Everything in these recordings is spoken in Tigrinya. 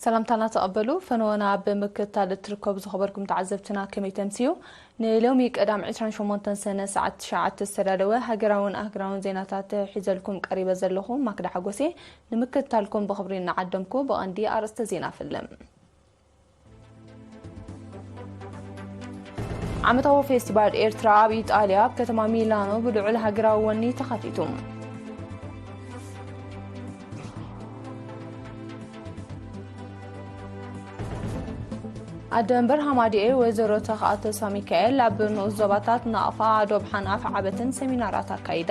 ሰላምታና ተቐበሉ ፈነወና ብምክታል እትርከቡ ዝኸበርኩም ተዓዘብትና ከመይ ተምስዩ ንሎሚ ቀዳም 28 ሰነ ሰዓት 9 ዝተዳለወ ሃገራውን ኣህግራውን ዜናታት ሒዘልኩም ቀሪበ ዘለኹ ማክዳ ሓጎሴ ንምክትታልኩም ብኽብሪ እናዓደምኩ ብቐንዲ ኣርእስተ ዜና ፍልም። ዓመታዊ ፌስቲቫል ኤርትራ ኣብ ኢጣልያ ኣብ ከተማ ሚላኖ ብልዑል ሃገራዊ ወኒ ተኸፊቱ። ኣደንበር ሃማዲኤ ወይዘሮ ተኽኣ ተስፋ ሚካኤል ኣብ ንኡስ ዞባታት ናቕፋ፣ ኣዶብሓን ኣፍዓበትን ሰሚናራት ኣካይዳ።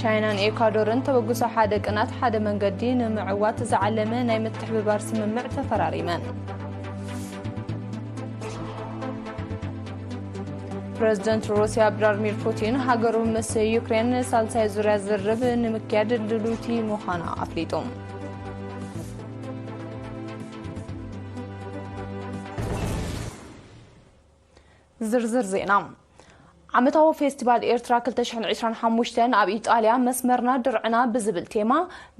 ቻይናን ኤኳዶርን ተበግሶ ሓደ ቅናት ሓደ መንገዲ ንምዕዋት ዝዓለመ ናይ ምትሕብባር ስምምዕ ተፈራሪመን ፕረዚደንት ሩስያ ቭላድሚር ፑቲን ሃገሩ ምስ ዩክሬን ሳልሳይ ዙርያ ዝርብ ንምክያድ ድሉቲ ምዃና ኣፍሊጡ ዝርዝር ዜና ዓመታዊ ፌስቲቫል ኤርትራ 2025 ኣብ ኢጣልያ መስመርና ድርዕና ብዝብል ቴማ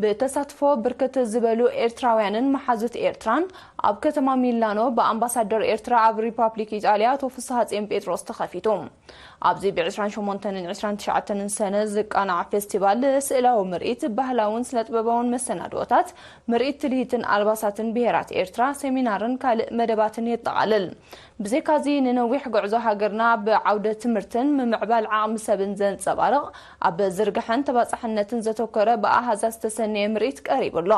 ብተሳትፎ ብርክት ዝበሉ ኤርትራውያንን መሓዙት ኤርትራን ኣብ ከተማ ሚላኖ ብኣምባሳደር ኤርትራ ኣብ ሪፓብሊክ ኢጣልያ ኣቶ ፍስሃጼን ጴጥሮስ ተኸፊቱ። ኣብዚ ብ28ን 29ን ሰነ ዝቃናዕ ፌስቲቫል ስእላዊ ምርኢት፣ ባህላውን ስነጥበባውን መሰናድኦታት፣ ምርኢት ትልሂትን ኣልባሳትን ብሄራት ኤርትራ፣ ሰሚናርን ካልእ መደባትን የጠቓልል። ብዘይካ'ዚ ንነዊሕ ጉዕዞ ሃገርና ብዓውደ ትምህርትን ምምዕባል ዓቕሚ ሰብን ዘንጸባርቕ፣ ኣብ ዝርግሐን ተባጻሕነትን ዘተኮረ ብኣሃዛት ዝተሰነየ ምርኢት ቀሪቡ ኣሎ።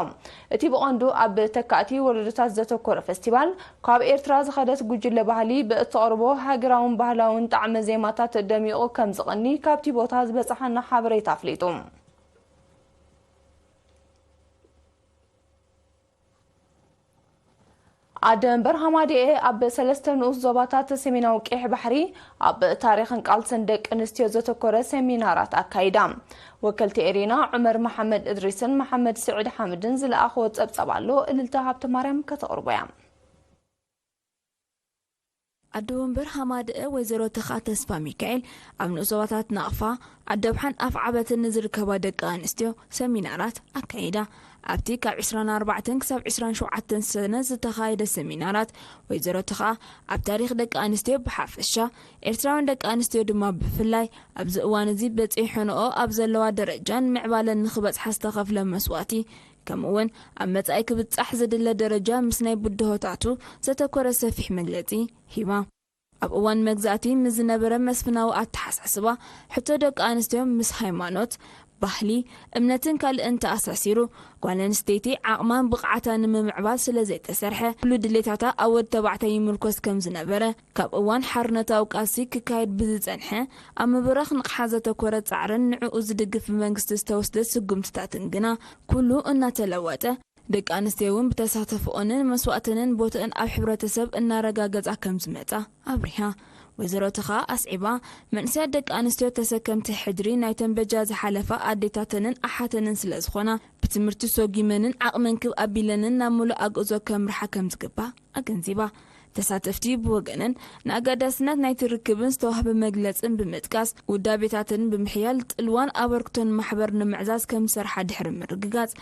እቲ ብቐንዱ ኣብ ተካእቲ ወለዶታት ዘተኮረ ፈስቲቫል፣ ካብ ኤርትራ ዝኸደት ጉጅለ ባህሊ ብእተቕርቦ ሃገራውን ባህላውን ጣዕመ ዜማታት ደሚቑ ከምዝቕኒ ካብቲ ቦታ ዝበጽሓና ሓበሬታ ኣፍሊጡ። ኣደ እምበር ሃማደኤ ኣብ ሰለስተ ንኡስ ዞባታት ሰሜናዊ ቀይሕ ባሕሪ ኣብ ታሪኽን ቃልስን ደቂ ኣንስትዮ ዘተኮረ ሰሚናራት ኣካይዳ። ወከልቲ ኤሪና ዑመር መሓመድ እድሪስን መሓመድ ስዒድ ሓምድን ዝለኣኽዎ ጸብጻብ ኣሎ እልልታ ሃብተማርያም ከተቕርቦ እያ። ኣደ ወንበር ሃማደኤ ወይዘሮ ተኽኣ ተስፋሚካኤል ኣብ ንኡስ-ዞባታት ናቕፋ፣ ዓደብሓን ኣፍዓበትን ንዝርከባ ደቂ ኣንስትዮ ሰሚናራት ኣካይዳ። ኣብቲ ካብ ዕስራን ኣርባዕተን ክሳብ ዕስራን ሸውዓተን ሰነ ዝተኻየደ ሰሚናራት፣ ወይዘሮ ተኽኣ ኣብ ታሪኽ ደቂ ኣንስትዮ ብሓፈሻ፣ ኤርትራውያን ደቂ ኣንስትዮ ድማ ብፍላይ ኣብዚ እዋን'ዚ በጺሐንኦ ኣብ ዘለዋ ደረጃን ምዕባለን ንኽበጽሓ ዝተኸፍለ መስዋእቲ ከምኡ ውን ኣብ መጻኢ ክብጻሕ ዝድለ ደረጃ ምስ ናይ ብድሆታቱ ዘተኮረ ሰፊሕ መግለጺ ሂባ። ኣብ እዋን መግዛእቲ ምስ ዝነበረ መስፍናዊ ኣተሓሳስባ ሕቶ ደቂ ኣንስትዮ ምስ ሃይማኖት፣ ባህሊ፣ እምነትን ካልእን ተኣሳሲሩ ጓል ኣንስተይቲ ዓቕማን ብቕዓታን ንምምዕባል ስለዘይተሰርሐ ኩሉ ድሌታታ ኣብ ወድ ተባዕታይ ይምርኮስ ከምዝነበረ ካብ እዋን ሓርነታዊ ቃልሲ ክካየድ ብዝጸንሐ ኣብ ምብራኽ ንቕሓት ዘተኮረ ጻዕርን ንዕኡ ዝድግፍ ብመንግስቲ ዝተወስደ ስጉምትታትን ግና ኩሉ እናተለወጠ፣ ደቂ ኣንስትዮ እውን ብተሳተፎኦንን መስዋእተንን ቦትእን ኣብ ሕብረተሰብ እናረጋገጻ ከም ዝመጻ ኣብሪሃ። ወይዘሮ ተኻ ኣስዒባ፣ መንእሰያት ደቂ ኣንስትዮ ተሰከምቲ ሕድሪ ናይተን በጃ ዝሓለፋ ኣዴታተንን ኣሓተንን ስለ ዝኾና፣ ብትምህርቲ ሶጊመንን ዓቕመን ክብ ኣቢለንን ናብ ምሉእ ኣግእዞ ከምርሓ ከም ዝግባእ፣ ኣገንዚባ። ተሳተፍቲ ብወገነን ንኣገዳስነት ናይቲ ርክብን ዝተዋህበ መግለጽን ብምጥቃስ፣ ውዳቤታተን ብምሕያል ጽልዋን ኣበርክቶን ማሕበር ንምዕዛዝ ከም ዝሰርሓ ድሕሪ ምርግጋጽ፣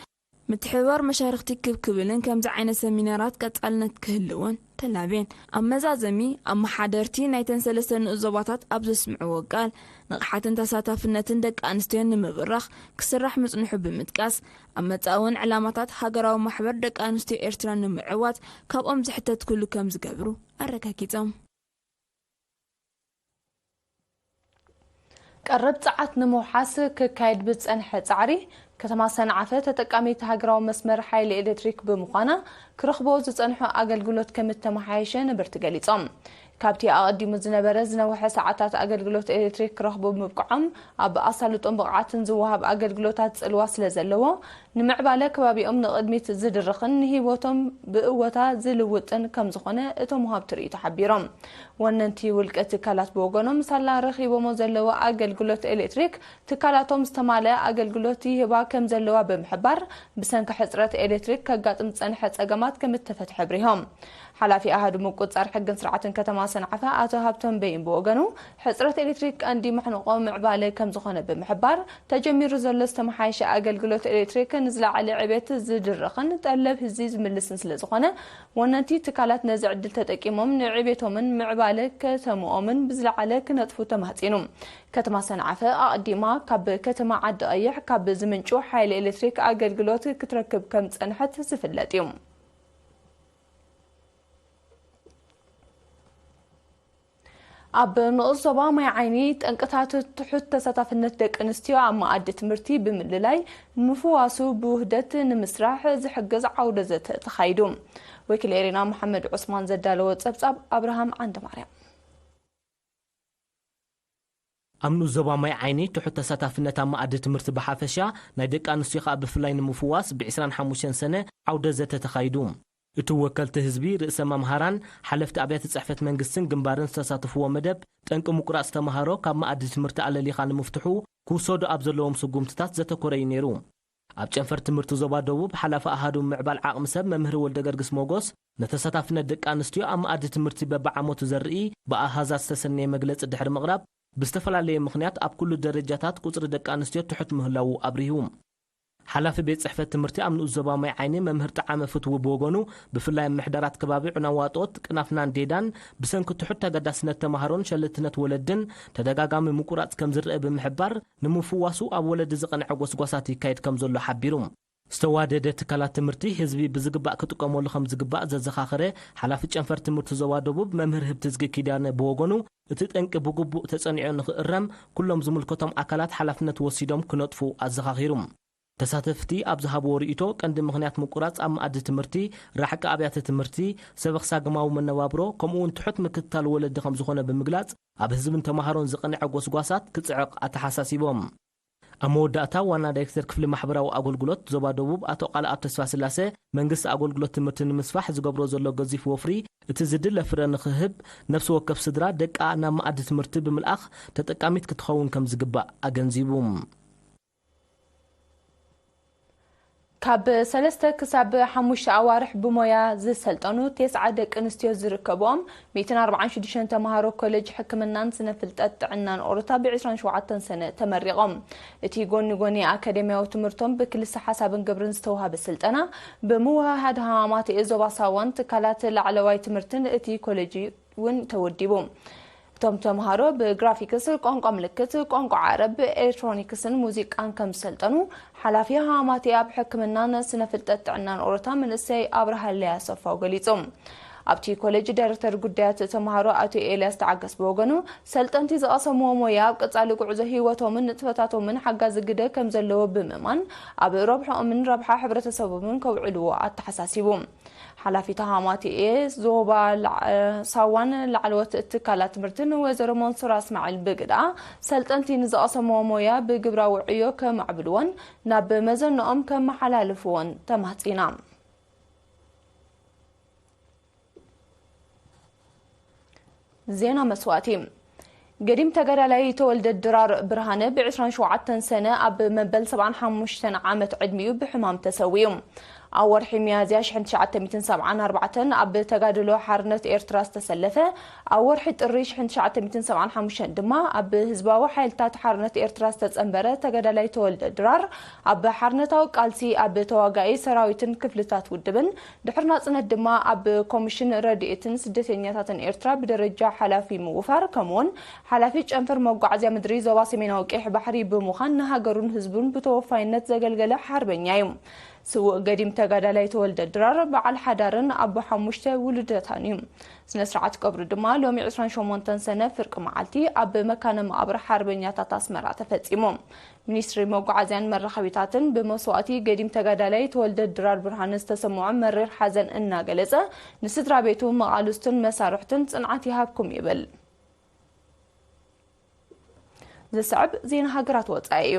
ምትሕብባር መሻርኽቲ ክብ ክብልን ከምዚ ዓይነት ሰሚናራት ቀጻልነት ክህልዎን ተላብየን። ኣብ መዛዘሚ፣ ኣመሓደርቲ ናይተን ሰለስተ ንኡስ ዞባታት ኣብ ዘስምዕዎ ቃል፣ ንቕሓትን ተሳታፍነትን ደቂ ኣንስትዮን ንምብራኽ ክስራሕ ምጽንሑ ብምጥቃስ፣ ኣብ መጻኢ'ውን ዕላማታት ሃገራዊ ማሕበር ደቂ ኣንስትዮ ኤርትራ ንምዕዋት ካብኦም ዝሕተት ኩሉ ከም ዝገብሩ ኣረጋጊጾም። ቀረብ ጸዓት ንምውሓስ ክካየድ ብዝጸንሐ ጻዕሪ፣ ከተማ ሰንዓፈ ተጠቃሚት ሃገራዊ መስመር ሓይሊ ኤሌክትሪክ ብምዃና፣ ክረኽብኦ ዝጸንሑ ኣገልግሎት ከምእተመሓየሸ ነበርቲ ገሊጾም። ካብቲ ኣቐዲሙ ዝነበረ ዝነውሐ ሰዓታት ኣገልግሎት ኤሌክትሪክ ክረኽቡ ምብቅዖም ኣብ ኣሳልጦን ብቕዓትን ዝወሃብ ኣገልግሎታት ጽልዋ ስለ ዘለዎ፣ ንምዕባለ ከባቢኦም ንቕድሚት ዝድርኽን ንህይወቶም ብእወታ ዝልውጥን ከም ዝዀነ እቶም ወሃብቲ ርእይቶ ሓቢሮም። ወነንቲ ውልቀ ትካላት ብወገኖም፣ ሳላ ረኺቦሞ ዘለዉ ኣገልግሎት ኤሌክትሪክ፣ ትካላቶም ዝተማልኣ ኣገልግሎት ይህባ ከም ዘለዋ ብምሕባር፣ ብሰንኪ ሕጽረት ኤሌክትሪክ ከጋጥም ዝጸንሐ ጸገማት ከም እተፈትሐ ኣብሪሆም። ሓላፊ ኣሃዱ ምቁጽጻር ሕግን ስርዓትን ከተማ ሰንዓፈ ኣቶ ሃብቶም በይን ብወገኑ፣ ሕጽረት ኤሌክትሪክ ቀንዲ መሕንቖ ምዕባለ ከምዝኾነ ብምሕባር፣ ተጀሚሩ ዘሎ ዝተመሓየሸ ኣገልግሎት ኤሌክትሪክ ንዝለዓለ ዕብየት ዝድርኽን ጠለብ ህዝቢ ዝምልስን ስለዝኾነ ወነንቲ ትካላት ነዚ ዕድል ተጠቂሞም ንዕብየቶምን ምዕባለ ከተምኦምን ብዝለዓለ ክነጥፉ ተማህጺኑ። ከተማ ሰንዓፈ ኣቕዲማ ካብ ከተማ ዓዲቐይሕ ካብ ዝምንጩ ሓይሊ ኤሌክትሪክ ኣገልግሎት ክትረክብ ከምዝጸንሐት ዝፍለጥ እዩ። ኣብ ንኡስ ዞባ ማይ ዓይኒ ጠንቅታት ትሑት ተሳታፍነት ደቂ ኣንስትዮ ኣብ መኣዲ ትምህርቲ ብምልላይ ምፍዋሱ ብውህደት ንምስራሕ ዝሕግዝ ዓውደ ዘተ ተኻይዱ። ወኪል ኤሪና መሓመድ ዑስማን ዘዳለዎ ጸብጻብ ኣብርሃም ዓንደማርያም ኣብ ንኡስ ዞባ ማይ ዓይኒ፣ ትሑት ተሳታፍነት ኣብ መኣዲ ትምህርቲ ብሓፈሻ፣ ናይ ደቂ ኣንስትዮ ከኣ ብፍላይ ንምፍዋስ ብ ዕስራን ሓሙሽተን ሰነ ዓውደ ዘተ ተኻይዱ። እቲ ወከልቲ ህዝቢ፣ ርእሰ መምሃራን፣ ሓለፍቲ ኣብያተ ጽሕፈት መንግስትን ግንባርን ዝተሳተፍዎ መደብ፣ ጠንቂ ምቁራጽ ተመሃሮ ካብ መኣዲ ትምህርቲ ኣለሊኻ ንምፍትሑ ክውሰዱ ኣብ ዘለዎም ስጉምትታት ዘተኮረ'ዩ ነይሩ። ኣብ ጨንፈር ትምህርቲ ዞባ ደቡብ ሓላፊ ኣሃዱ ምምዕባል ዓቕሚ ሰብ መምህር ወልደገርግስ ሞጎስ፣ ንተሳታፍነት ደቂ ኣንስትዮ ኣብ መኣዲ ትምህርቲ በቢዓመቱ ዘርኢ ብኣሃዛት ዝተሰነየ መግለፂ ድሕሪ ምቕራብ፣ ብዝተፈላለየ ምኽንያት ኣብ ኩሉ ደረጃታት ቁፅሪ ደቂ ኣንስትዮ ትሑት ምህላዉ ኣብሪሁ። ሓላፊ ቤት ፅሕፈት ትምህርቲ ኣብ ንኡስ ዞባ ማይ ዓይኒ መምህር ጠዓመ ፍትዉ ብወገኑ፣ ብፍላይ ኣብ ምሕደራት ከባቢ ዑናዋጦት፣ ቅናፍናን ዴዳን ብሰንኪ ትሑት ተገዳስነት ተምሃሮን ሸለልትነት ወለድን ተደጋጋሚ ምቁራፅ ከምዝረኣ ብምሕባር፣ ንምፍዋሱ ኣብ ወለዲ ዝቐንዐ ጎስጓሳት ይካየድ ከምዘሎ ሓቢሩ። ዝተዋደደ ትካላት ትምህርቲ ህዝቢ ብዝግባእ ክጥቀመሉ ከምዝግባእ ዘዘኻኸረ ሓላፊ ጨንፈር ትምህርቲ ዞባ ደቡብ መምህር ህብትዝጊ ኪዳነ ብወገኑ፣ እቲ ጠንቂ ብግቡእ ተፀኒዑ ንኽእረም ኩሎም ዝምልከቶም ኣካላት ሓላፍነት ወሲዶም ክነጥፉ ኣዘኻኺሩ። ተሳተፍቲ ኣብ ዝሃብዎ ርኢቶ፣ ቀንዲ ምኽንያት ምቁራጽ ኣብ መኣዲ ትምህርቲ፣ ራሕቂ ኣብያተ ትምህርቲ፣ ሰበኽሳግማዊ መነባብሮ፣ ከምኡ'ውን ትሑት ምክትታል ወለዲ ከምዝኾነ ብምግላጽ፣ ኣብ ህዝብን ተማሃሮን ዝቐንዐ ጎስጓሳት ክጽዕቕ ኣተሓሳሲቦም። ኣብ መወዳእታ ዋና ዳይክተር ክፍሊ ማሕበራዊ ኣጎልጉሎት ዞባ ደቡብ ኣቶ ቃልኣብ ተስፋስላሰ፣ መንግስቲ ኣጎልጉሎት ትምህርቲ ንምስፋሕ ዝገብሮ ዘሎ ገዚፍ ወፍሪ እቲ ዝድለ ፍረ ንኽህብ ነፍሲ ወከፍ ስድራ ደቃ ናብ መኣዲ ትምህርቲ ብምልኣኽ ተጠቃሚት ክትኸውን ከምዝግባእ ኣገንዚቡ። ካብ ሰለስተ ክሳብ ሓሙሽተ ኣዋርሕ ብሞያ ዝሰልጠኑ ቴስዓ ደቂ ኣንስትዮ ዝርከብኦም ሚእትን ኣርብዓን ሽዱሽተን ተምሃሮ ኮሌጅ ሕክምናን ስነ ፍልጠት ጥዕናን ኦሮታ ብ ዕስራን ሸውዓተን ሰነ ተመሪቖም። እቲ ጎኒ ጎኒ ኣካዴምያዊ ትምህርቶም ብክልሰ ሓሳብን ግብርን ዝተውሃበ ስልጠና ብምውህሃድ ሃማማተኤ ዞባ ሳዋን ትካላት ላዕለዋይ ትምህርትን እቲ ኮሌጅ እዩ። ውን ተወዲቡ። እቶም ተምሃሮ ብግራፊክስ፣ ቋንቋ ምልክት፣ ቋንቋ ዓረብ፣ ኤሌክትሮኒክስን ሙዚቃን ከም ዝሰልጠኑ ሓላፊ ሃማቴ ኣብ ሕክምናን ስነ ፍልጠት ጥዕናን ኦሮታ መንእሰይ ኣብርሃለይ ኣሰፋው ገሊጹ። ኣብቲ ኮሌጅ ዳይረክተር ጉዳያት ተምሃሮ ኣቶ ኤልያስ ተዓገስ ብወገኑ፣ ሰልጠንቲ ዝቐሰምዎ ሞያ ኣብ ቀጻሊ ጉዕዞ ህይወቶምን ንጥፈታቶምን ሓጋዚ ግደ ከም ዘለዎ ብምእማን ኣብ ረብሕኦምን ረብሓ ሕብረተሰቦምን ከውዕልዎ ኣተሓሳሲቡ። ሓላፊት ሃማቴኤ ዞባ ሳዋን ላዕለዎት ትካላት ትምህርትን ወይዘሮ መንሱራ እስማዒል ብግዳ ሰልጠንቲ ንዝቐሰምዎ ሞያ ብግብራዊ ዕዮ ከማዕብልዎን ናብ መዘንኦም ከመሓላልፍዎን ተማህፂና። ዜና መስዋእቲ ገዲም ተጋዳላይ ተወልደ ድራር ብርሃነ ብ ዕስራን ሸውዓተን ሰነ ኣብ መበል ሰብዓን ሓሙሽተን ዓመት ዕድሚኡ ብሕማም ተሰዊኡ። ኣብ ወርሒ ሚያዝያ ሽሕን ትሽዓተ ሚእትን ሰብዓን ኣርባዕተን ኣብ ተጋድሎ ሓርነት ኤርትራ ዝተሰለፈ፣ ኣብ ወርሒ ጥሪ ሽሕን ትሽዓተ ሚእትን ሰብዓን ሓሙሽተን ድማ ኣብ ህዝባዊ ሓይልታት ሓርነት ኤርትራ ዝተጸንበረ ተጋዳላይ ተወልደ ድራር ኣብ ሓርነታዊ ቃልሲ ኣብ ተዋጋኢ ሰራዊትን ክፍልታት ውድብን ድሕሪ ናጽነት ድማ ኣብ ኮሚሽን ረድኤትን ስደተኛታትን ኤርትራ ብደረጃ ሓላፊ ምውፋር ከምኡ'ውን ሓላፊ ጨንፈር መጓዓዝያ ምድሪ ዞባ ሰሜናዊ ቀይሕ ባሕሪ ብምዃን ንሃገሩን ህዝቡን ብተወፋይነት ዘገልገለ ሓርበኛ እዩ። ስዉእ ገዲም ተጋዳላይ ተወልደ ድራር በዓል ሓዳርን ኣቦ ሓሙሽተ ውሉደታን እዩ። ስነ ስርዓት ቀብሩ ድማ ሎሚ ዕስራን ሸሞንተን ሰነ ፍርቂ መዓልቲ ኣብ መካነ መቓብር ሓርበኛታት ኣስመራ ተፈጺሙ። ሚኒስትሪ መጓዓዝያን መራኸቢታትን ብመስዋእቲ ገዲም ተጋዳላይ ተወልደ ድራር ብርሃነ ዝተሰመዖ መሪር ሓዘን እናገለፀ ንስድራ ቤቱ፣ መቓልስቱን መሳርሕቱን ፅንዓት ይሃብኩም ይብል። ዝስዕብ ዜና ሃገራት ወፃኢ እዩ።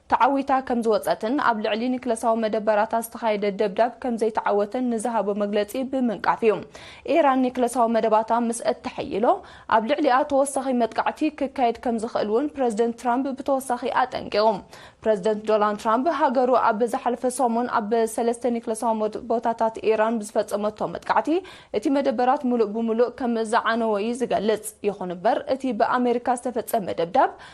ተዓዊታ ከም ዝወጸትን ኣብ ልዕሊ ኒክለሳዊ መደበራታ ዝተኻየደ ደብዳብ ከም ዘይተዓወተን ንዝሃቦ መግለጺ ብምንቃፍ እዩ። ኢራን ኒክለሳዊ መደባታ ምስ እተሐይሎ ኣብ ልዕሊኣ ተወሳኺ መጥቃዕቲ ክካየድ ከም ዝኽእል'ውን ፕረዚደንት ትራምፕ ብተወሳኺ ኣጠንቂቑ። ፕረዚደንት ዶናልድ ትራምፕ ሃገሩ ኣብ ዝሓለፈ ሰሙን ኣብ ሰለስተ ኒክለሳዊ ቦታታት ኢራን ብዝፈጸመቶ መጥቃዕቲ እቲ መደበራት ምሉእ ብምሉእ ከም ዝዓነወ እዩ ዝገልጽ። ይኹን'ምበር እቲ ብኣመሪካ ዝተፈጸመ ደብዳብ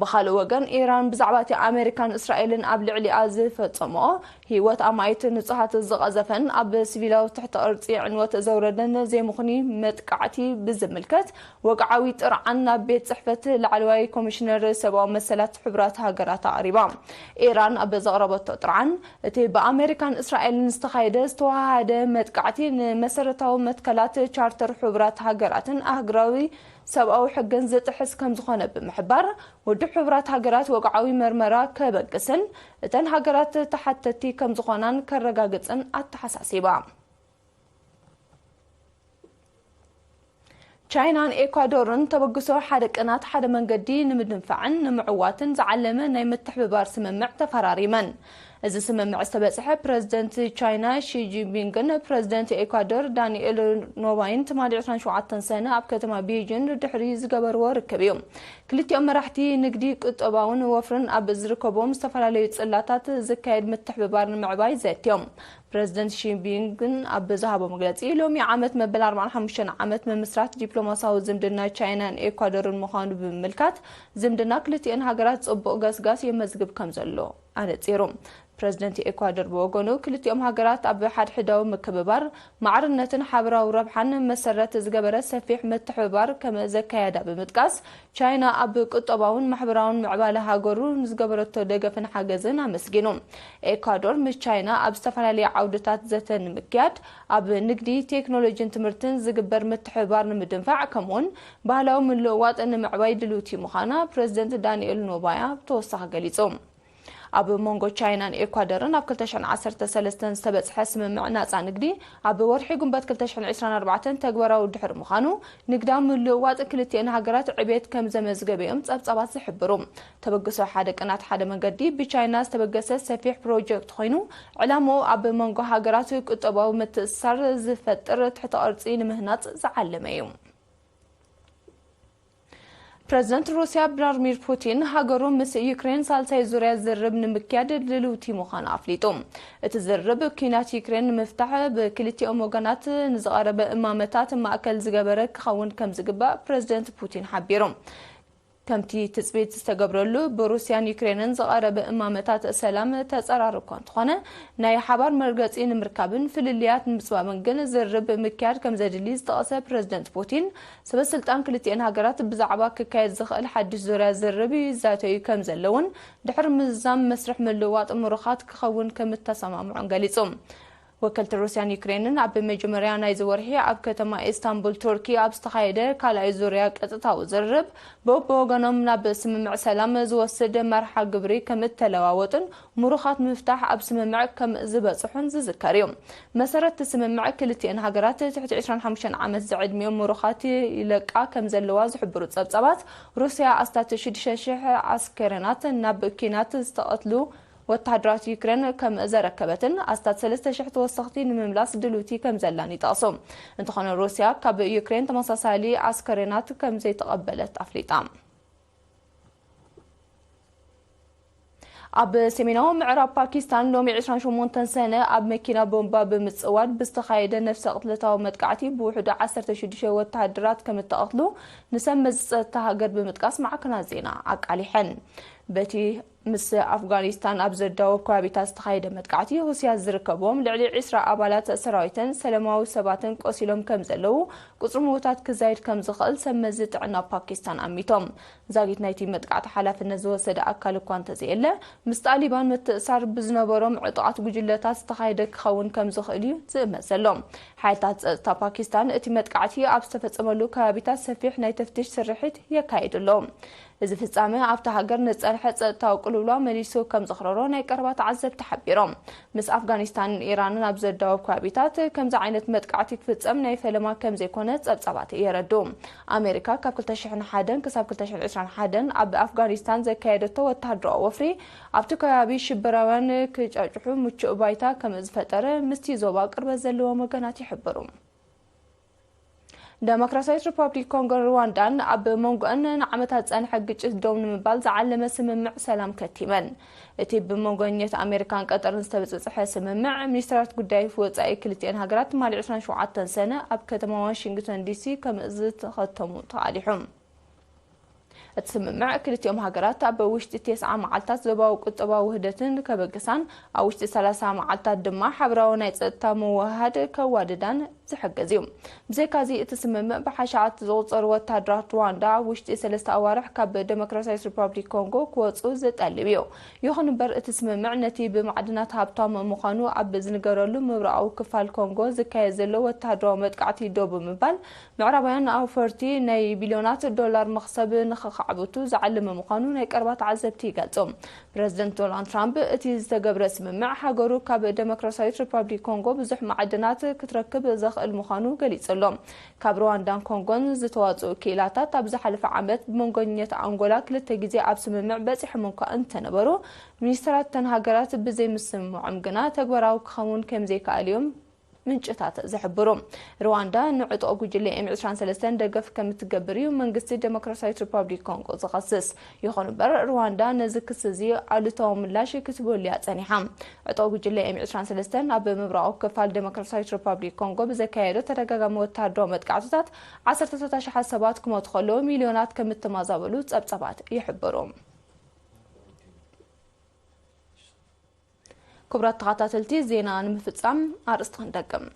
ብኻልእ ወገን ኢራን ብዛዕባ እቲ ኣመሪካን እስራኤልን ኣብ ልዕሊኣ ዝፈጸምኦ ህይወት ኣማኢት ንጹሃት ዝቐዘፈን ኣብ ሲቪላዊ ትሕተ ቅርጺ ዕንወት ዘውረደን ዘይምኽኑይ መጥቃዕቲ ብዝምልከት ወግዓዊ ጥርዓን ናብ ቤት ጽሕፈት ላዕለዋይ ኮሚሽነር ሰብኣዊ መሰላት ሕቡራት ሃገራት ኣቕሪባ። ኢራን ኣብ ዘቕረበቶ ጥርዓን፣ እቲ ብኣመሪካን እስራኤልን ዝተኻየደ ዝተወሃሃደ መጥቃዕቲ ንመሰረታዊ መትከላት ቻርተር ሕቡራት ሃገራትን ኣህግራዊ ሰብኣዊ ሕግን ዝጥሕስ ከምዝኾነ ብምሕባር፣ ውድብ ሕቡራት ሃገራት ወግዓዊ መርመራ ከበግስን እተን ሃገራት ተሓተቲ ከምዝኾናን ከረጋግጽን ኣተሓሳሲባ። ቻይናን ኤኳዶርን ተበግሶ ሓደ ቅናት ሓደ መንገዲ ንምድንፋዕን ንምዕዋትን ዝዓለመ ናይ ምትሕብባር ስምምዕ ተፈራሪመን። እዚ ስምምዕ ዝተበጽሐ ፕረዚደንት ቻይና ሺ ጂንፒንግን ፕረዚደንት ኤኳዶር ዳኒኤል ኖባይን ትማሊ ዕስራን ሸውዓተን ሰነ ኣብ ከተማ ቤይጂን ድሕሪ ዝገበርዎ ርክብ እዩ። ክልቲኦም መራሕቲ ንግዲ፣ ቁጠባውን ወፍርን ኣብ ዝርከቡዎም ዝተፈላለዩ ጽላታት ዝካየድ ምትሕብባር ንምዕባይ ዘትዮም። ፕረዚደንት ሺ ጂንፒንግ ኣብ ዝሃቦ መግለጺ፣ ሎሚ ዓመት መበል ኣርባዓን ሓሙሽተን ዓመት ምምስራት ዲፕሎማስያዊ ዝምድና ቻይናን ኤኳዶርን ምዃኑ ብምምልካት፣ ዝምድና ክልቲኤን ሃገራት ጽቡቕ ገስጋስ የመዝግብ ከምዘሎ ኣነጺሩ። ፕረዚደንት ኤኳዶር ብወገኑ፣ ክልቲኦም ሃገራት ኣብ ሓድሕዳዊ ምክብባር፣ ማዕርነትን ሓበራዊ ረብሓን መሰረት ዝገበረ ሰፊሕ ምትሕብባር ከም ዘካየዳ ብምጥቃስ፣ ቻይና ኣብ ቁጠባውን ማሕበራውን ምዕባለ ሃገሩ ንዝገበረቶ ደገፍን ሓገዝን ኣመስጊኑ። ኤኳዶር ምስ ቻይና ኣብ ዝተፈላለየ ዓውድታት ዘተ ንምክያድ፣ ኣብ ንግዲ፣ ቴክኖሎጂን ትምህርትን ዝግበር ምትሕብባር ንምድንፋዕ ከምኡ'ውን ባህላዊ ምልውዋጥ ንምዕባይ ድልውቲ ምዃና ፕረዚደንት ዳኒኤል ኖባያ ብተወሳኺ ገሊጹ። ኣብ መንጎ ቻይናን ኤኳደርን ኣብ ክልተ ሽሕን ዓሰርተ ሰለስተን ዝተበጽሐ ስምምዕ ናጻ ንግዲ ኣብ ወርሒ ጉንበት ክልተ ሽሕን ዕስራን ኣርባዕተን ተግባራዊ ድሕሪ ምዃኑ ንግዳዊ ምልውዋጥ ክልቲኤን ሃገራት ዕብየት ከምዘመዝገበ'ዮም ጸብጻባት ዝሕብሩ። ተበግሶ ሓደ ቅናት ሓደ መንገዲ ብቻይና ዝተበገሰ ሰፊሕ ፕሮጀክት ኮይኑ ዕላምኡ ኣብ መንጎ ሃገራት ቁጠባዊ ምትእስሳር ዝፈጥር ትሕተ ቅርጺ ንምህናጽ ዝዓለመ'ዩ። ፕረዚደንት ሩስያ ብላርሚር ፑቲን ሃገሩ ምስ ዩክሬን ሳልሳይ ዙርያ ዝርርብ ንምክያድ ድልውቲ ምዃና ኣፍሊጡ። እቲ ዝርርብ ኲናት ዩክሬን ንምፍታሕ ብክልቲኦም ወገናት ንዝቐረበ እማመታት ማእከል ዝገበረ ክኸውን ከምዝግባእ ፕረዚደንት ፑቲን ሓቢሩ። ከምቲ ትጽቢት ዝተገብረሉ፣ ብሩስያን ዩክሬንን ዝቐረበ እማመታት ሰላም ተጸራሪ እኳ እንተኾነ፣ ናይ ሓባር መርገጺ ንምርካብን ፍልልያት ንምጽባብን ግን ዝርርብ ምክያድ ከምዘድሊ ዝጠቐሰ ፕረዚደንት ፑቲን፣ ሰበስልጣን ክልቲኤን ሃገራት ብዛዕባ ክካየድ ዝኽእል ሓድሽ ዙርያ ዝርርብ ይዛተዩ ከምዘለዉን ድሕሪ ምዝዛም መስርሕ ምልውዋጥ ምሩኻት ክኸውን ከምእተሰማምዑን ገሊጹ። ወከልቲ ሩስያን ዩክሬንን ኣብ መጀመርያ ናይዚ ወርሒ ኣብ ከተማ ኢስታንቡል ቱርኪ ኣብ ዝተኻየደ ካልኣይ ዙርያ ቀጥታዊ ዝርርብ በብወገኖም ናብ ስምምዕ ሰላም ዝወስድ መርሓ ግብሪ ከምእተለዋወጡን ምሩኻት ንምፍታሕ ኣብ ስምምዕ ከምዝበጽሑን ዝዝከር እዩ። ብመሰረት'ቲ ስምምዕ ክልቲኤን ሃገራት ትሕቲ ዕስራን ሓሙሽተን ዓመት ዝዕድሚኦም ምሩኻት ይለቃ ከምዘለዋ ዝሕብሩ ጸብጻባት ሩስያ ኣስታት ሽዱሽተ ሽሕ ዓስከረናት ናብ ኲናት ዝተቐትሉ ወተሃደራት ዩክሬን ከም ዘረከበትን ኣስታት ሰለስተ ሽሕ ተወሰኽቲ ንምምላስ ድልውቲ ከም ዘላን ይጠቕሱ። እንተኾነ ሩስያ ካብ ዩክሬን ተመሳሳሊ ኣስከሬናት ከም ዘይተቐበለት ኣፍሊጣ። ኣብ ሰሜናዊ ምዕራብ ፓኪስታን ሎሚ ዕስራን ሸሞንተን ሰነ ኣብ መኪና ቦምባ ብምጽዋድ ብዝተኻየደ ነፍሰ ቅትለታዊ መጥቃዕቲ ብውሕዱ ዓሰርተ ሽዱሽተ ወተሃደራት ከም እተቐትሉ ንሰብ መዚ ጸጥታ ሃገር ብምጥቃስ ማዕከናት ዜና ኣቃሊሐን። በቲ ምስ ኣፍጋኒስታን ኣብ ዘዳውብ ከባቢታት ዝተኻየደ መጥቃዕቲ ሁሲያት ዝርከብዎም ልዕሊ ዕስራ ኣባላት ሰራዊተን ሰለማዊ ሰባትን ቆሲሎም ከምዘለዉ፣ ቁጽሪ ምዉታት ክዛይድ ከምዝኽእል ሰብመዚ ጥዕና ፓኪስታን ኣሚቶም። ዛጊት ናይቲ መጥቃዕቲ ሓላፍነት ዝወሰደ ኣካል እኳ እንተዘየለ፣ ምስ ጣሊባን ምትእስሳር ብዝነበሮም ዕጡቓት ጉጅለታት ዝተኻየደ ክኸውን ከምዝኽእል'ዩ ዝእመት ዘሎ። ሓይልታት ጸጥታ ፓኪስታን እቲ መጥቃዕቲ ኣብ ዝተፈጸመሉ ከባቢታት ሰፊሕ ናይ ተፍትሽ ስርሒት የካይዱ ኣለዉ። እዚ ፍጻመ ኣብታ ሃገር ንዝጸንሐ ጸጥታዊ ቅልውላው መሊሱ ከም ዘኽረሮ ናይ ቀረባ ተዓዘብቲ ሓቢሮም። ምስ ኣፍጋኒስታንን ኢራንን ኣብ ዘዳውብ ከባቢታት ከምዚ ዓይነት መጥቃዕቲ ክፍጸም ናይ ፈለማ ከም ዘይኮነ ጸብጻባት የረድኡ። ኣመሪካ ካብ ክልተ ሽሕን ሓደን ክሳብ ክልተ ሽሕን ዕስራን ሓደን ኣብ ኣፍጋኒስታን ዘካየደቶ ወተሃደራዊ ወፍሪ ኣብቲ ከባቢ ሽበራውያን ክጫጭሑ ምቹእ ባይታ ከም ዝፈጠረ ምስቲ ዞባ ቅርበት ዘለዎም ወገናት ይሕብሩ። ደሞክራስያዊት ሪፓብሊክ ኮንጎን ሩዋንዳን ኣብ መንጎኣን ንዓመታት ዝጸንሐ ግጭት ደው ንምባል ዝዓለመ ስምምዕ ሰላም ከቲመን። እቲ ብመንጎኝነት ኣሜሪካን ቀጠርን ዝተበጸጸሐ ስምምዕ፣ ሚኒስተራት ጉዳይ ወጻኢ ክልቲኤን ሃገራት ትማሊ ዕስራን ሸውዓተን ሰነ ኣብ ከተማ ዋሽንግተን ዲሲ ከምእዝተኸተሙ ተቓሊሑ። እቲ ስምምዕ፣ ክልቲኦም ሃገራት ኣብ ውሽጢ ቴስዓ መዓልታት ዞባዊ ቁጠባዊ ውህደትን ከበግሳን፣ ኣብ ውሽጢ ሰላሳ መዓልታት ድማ ሓብራዊ ናይ ጸጥታ ምውህሃድ ከዋድዳን ዝሕግዝ እዩ። ብዘይካዚ፣ እቲ ስምምዕ ብሓሸዓት ዝቑጸሩ ወተሃደራት ሩዋንዳ ኣብ ውሽጢ ሰለስተ ኣዋርሕ ካብ ደሞክራስያዊት ሪፓብሊክ ኮንጎ ክወጽኡ ዝጠልብ እዩ። ይኹን እምበር፣ እቲ ስምምዕ ነቲ ብማዕድናት ሃብታም ምዃኑ ኣብ ዝንገረሉ ምብራቓዊ ክፋል ኮንጎ ዝካየድ ዘሎ ወተሃደራዊ መጥቃዕቲ ደው ብምባል ምዕራባውያን ንኣውፈርቲ ናይ ቢልዮናት ዶላር መኽሰብ ንኸኻዕብቱ ዝዓለመ ምዃኑ ናይ ቀረባ ተዓዘብቲ ይገልጹ። ፕረዚደንት ዶናልድ ትራምፕ፣ እቲ ዝተገብረ ስምምዕ ሃገሩ ካብ ደሞክራስያዊት ሪፓብሊክ ኮንጎ ብዙሕ መዓድናት ክትረክብ ዘኽእል ምዃኑ ገሊጹ ኣሎ። ካብ ሩዋንዳን ኮንጎን ዝተዋጽኡ ክኢላታት ኣብ ዝሓለፈ ዓመት ብመንጎኝነት ኣንጎላ ክልተ ግዜ ኣብ ስምምዕ በጺሖም እኳ እንተነበሩ፣ ሚኒስተራት እተን ሃገራት ብዘይምስምምዖም ግና ተግባራዊ ክኸውን ከምዘይክኣል'ዮም ምንጭታት ዝሕብሩ። ርዋንዳ ንዕጡቕ ጉጅለ ኤም ዕስራን ሰለስተን ደገፍ ከም እትገብር እዩ መንግስቲ ደሞክራስያዊት ሪፓብሊክ ኮንጎ ዝኸስስ። ይኹን እምበር ርዋንዳ ነዚ ክሲ እዚ ኣሉታዊ ምላሽ ክትህበሉ እያ ጸኒሓ። ዕጡቕ ጉጅለ ኤም ዕስራን ሰለስተን ኣብ ምብራቓዊ ክፋል ደሞክራስያዊት ሪፓብሊክ ኮንጎ ብዘካየዶ ተደጋጋሚ ወተሃደራዊ መጥቃዕትታት ዓሰርተታት ኣሽሓት ሰባት ክሞቱ ከለዉ ሚልዮናት ከም እተማዛበሉ ጸብጻባት ይሕብሩ። ክቡራት ተኸታተልቲ ዜና ንምፍፃም ኣርእስቲ ክንደግም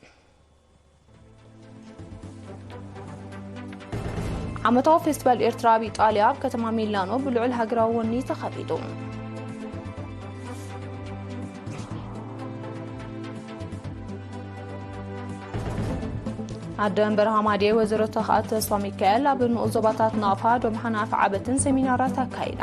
ዓመታዊ ፌስቲቫል ኤርትራ ኣብ ኢጣልያ ኣብ ከተማ ሚላኖ ብልዑል ሃገራዊ ወኒ ተኸቢዱ። ኣደ መንበር ሃማዴ ወይዘሮ ተኽኣት ተስፋ ሚካኤል ኣብ ንኡስ ዞባታት ናቕፋ፣ ዶምሓን ኣፍዓበትን ሴሚናራት ኣካይዳ።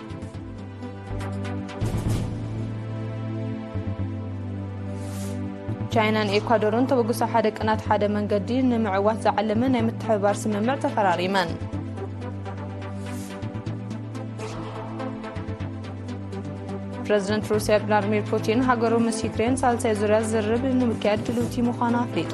ቻይናን ኤኳዶርን ተበግሶ ሓደ ቅናት ሓደ መንገዲ ንምዕዋት ዝዓለመ ናይ ምትሕብባር ስምምዕ ተፈራሪመን ፕረዚደንት ሩስያ ቭላድሚር ፑቲን ሃገሩ ምስ ዩክሬን ሳልሳይ ዙርያ ዝርብ ንምክያድ ድልውቲ ምዃኑ ኣፍሊጡ